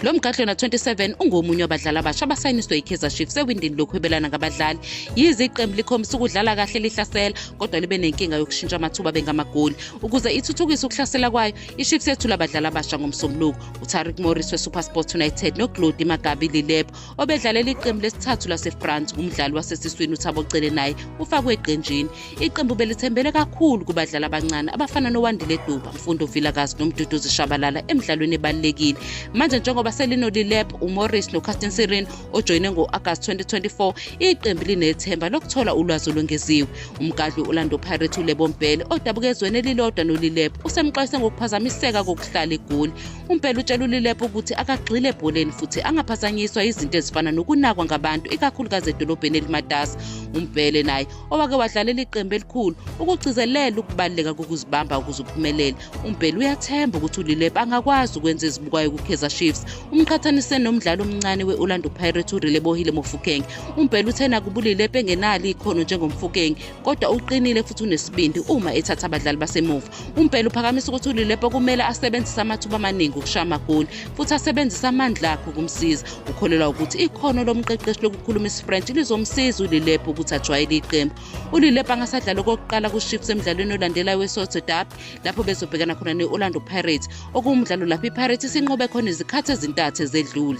Lo mgadli yona 27 ungomunye wabadlali abasha abasayiniswe iKaizer Chiefs ewindini lokuhwebelana ngabadlali. Yize iqembu likhombisa ukudlala kahle lihlasela kodwa libe nenkinga yokushintsha amathuba bengamagoli. Ukuze ithuthukise ukuhlasela kwayo, iChiefs yethula abadlali abasha ngoMsombuluko. UTarik Morris weSuperSport United noGlody Magabi Lilebo obedlalela iqembu lesithathu laseFrance umdlali wasesiswini uThabo Cele naye ufakwe eqenjini. iqembu belithembele kakhulu kubadlali abancane abafana nowandile duba mfundo vilakazi nomduduzi shabalala emidlalweni ebalulekile manje njengoba selinolilep umorris nocastin sirin ojoyine ngo-agasti 2024 iqembu linethemba lokuthola ulwazi olwengeziwe umgadli u-orlando pirate ulebombhele odabuka ezweni elilodwa nolilep usemxwayise ngokuphazamiseka kokuhlala egoli umpela utshela ulilep ukuthi akagxile ebholeni futhi angaphazanyiswa izinto ezifana nokunakwa ngabantu ikakhulukazi edolobheni elimatasa umbhele naye owake wadlalela iqembu elikhulu ukugcizelela ukubaluleka kokuzibamba ukuze uphumelele umbheli uyathemba ukuthi ulilep angakwazi ukwenza ezibukayo kukaizer chiefs umqhathanise nomdlali omncane we-orlando pirates urelebohile mofukeng umbheli uthe nakuba ulilep engenalo ikhono njengomfukeng kodwa uqinile futhi unesibindi uma ethatha abadlali basemuva UMbhele uphakamisa ukuthi uLilepo kumele asebenzise amathuba amaningi ukushaya amagoli futhi asebenzise amandla akhe ukumsiza. Ukholelwa ukuthi ikhono lomqeqeshi lokukhuluma isiFrench lizomsiza uLilepo ukuthi ajwayele iqembu. ULilepo angasadlala okokuqala kuShips emdlalweni olandelayo weSoto Derby lapho bezobhekana khona ne-Orlando Pirates okuwumdlalo lapho iPirates isinqobe khona izikhathi ezintathu ezedlule.